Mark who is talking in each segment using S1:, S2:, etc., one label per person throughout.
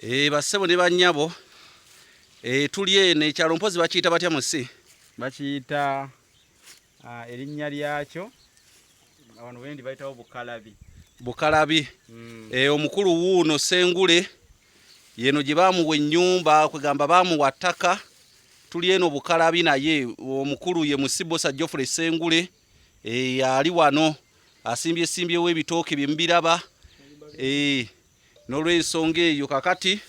S1: Eh, bassebo ne bannyabo eh, tuli eno ekyalo mpozi bakiyita batya musi bakiyita
S2: ah, erinnya lyakyo abantu bendi bayitawo bukalabi bukalabi
S1: mm. e, omukulu wuuno sengule yeno gye bamuwa ennyumba kwegamba bamuwa ttaka tuli eno bukalabi naye omukulu ye musibosa jofre sengule e, ali wano asimbye simbyewo ebitooke byemubiraba e, N'olw'ensonga eyo kakati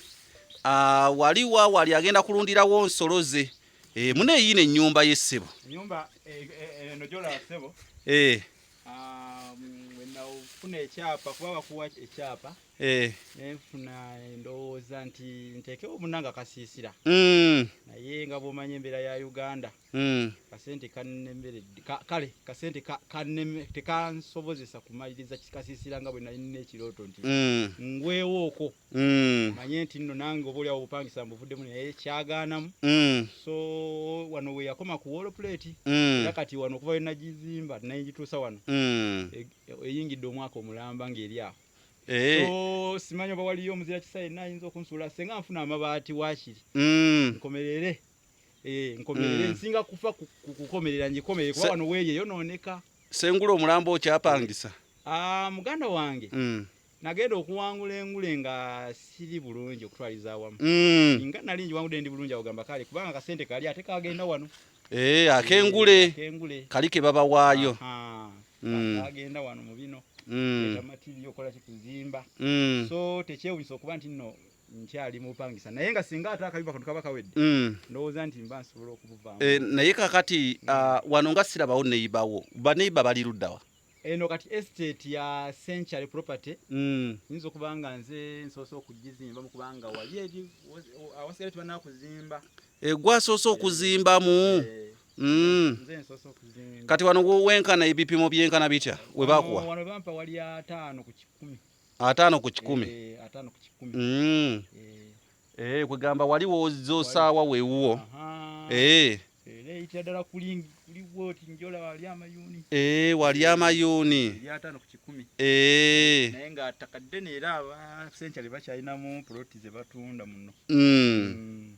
S1: ah, wali wa wali agenda kulundirawo nsolo ze Eh, mune eyiino ennyumba ye ssebo enyumba eh,
S2: eh, eno gyolaba sebo Eh, ah, mm, bwe nafuna ekyapa kuba bakuwa ekyapa eh, nenfuna endowooza nti nteekewo munanga kasiisira mm, naye nga bwomanyi embeera ya uganda Hmm. kasente kannemeredde kale kasente tekansobozesa kumaliriza kikasiisira nga bwe nali nina ekirooto nti hmm. ngwewo oko hmm. manye nti nno nange oba oliawo obupangisa mbuvuddemu naye kyagaanamu so wano we yakoma ku wolopuleeti era kati wano okuva wenagizimba nayingituusa wano e, eyingidde omwaka omulamba ng'eri awo Eh. so simanyi oba waliyo omuzira kisa yenna ayinza okunsuula senga nfuna amabaati wakiri mm. nkomerere Eh, nkomerere mm. nsinga kufa kukomerera njikomere kuba wano weeye yonooneka sengula omulambo
S1: okyapangisa ah, muganda
S2: wange mm. nagenda okuwangula engule nga siri bulungi okutwaliza awamu mm. nga nali njiwangude ndi bulungi agamba kale kubanga kasente kali ate kagenda wano eh, akengule
S1: eh, kali ke babawaayo
S2: agenda wano mu bino amatirio okola kikuzimba so tekyewunyisa okuba nti nno nkyali mupangisa naye nga singa ate akabiba kano kaba kawedde mm. ndowooza nti mba nsobola okubuvaamu eh, naye kakati mm.
S1: ah, wano nga sirabawo neyibawo baneiba bali luddawa eno kati
S2: estate ya century property mm. nyinza okuba nga nze nsoose okugizimba mukubanga wali eri awasigale tibana kuzimba egwasoose eh,
S1: okuzimbamu eh. Mm.
S2: kati wano wenkana
S1: ebipimo byenkana bitya webakuwa wano bampa wali
S2: ataano ku kikumi ataano ku
S1: kikumi eh, ataano ku kikumi
S2: mm. eh. eh,
S1: kwegamba wali wozza osaawa wewuwo eh.
S2: eyitira ddala kulingi kuliwo oti njola wali amayuuni eh, wali
S1: amayuuni eri ataano ku kikumi
S2: eh. naye nga ttaka ddene era abasenkyale bakyalinamu poloti ze batunda muno mm. mm.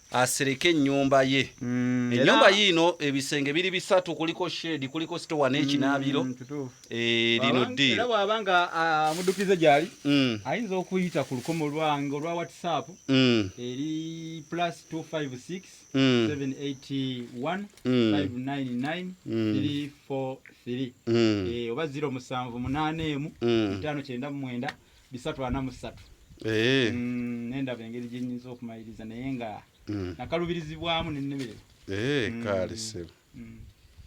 S1: asereke ennyumba ye mm, ennyumba yiino ebisenge biri bisatu kuliko shedi kuliko sitowa n'ekinaabiro mm, eh, lino ddiiro bwaba nga
S2: amudukize ah, gyali mm. ayinza okuyita ku lukomo lwange olwa whatsapp eri plus 256 781 599 343 oba 0 musanvu munaana emu etaano kyenda mu mwenda bisatu ana mu ssatu eh. mm, nendaba engeri gye nyinza okumaliriza naye nga mm.
S1: nakalubirizibwamu
S2: nennemererwa eh, mm. kaali
S1: sebo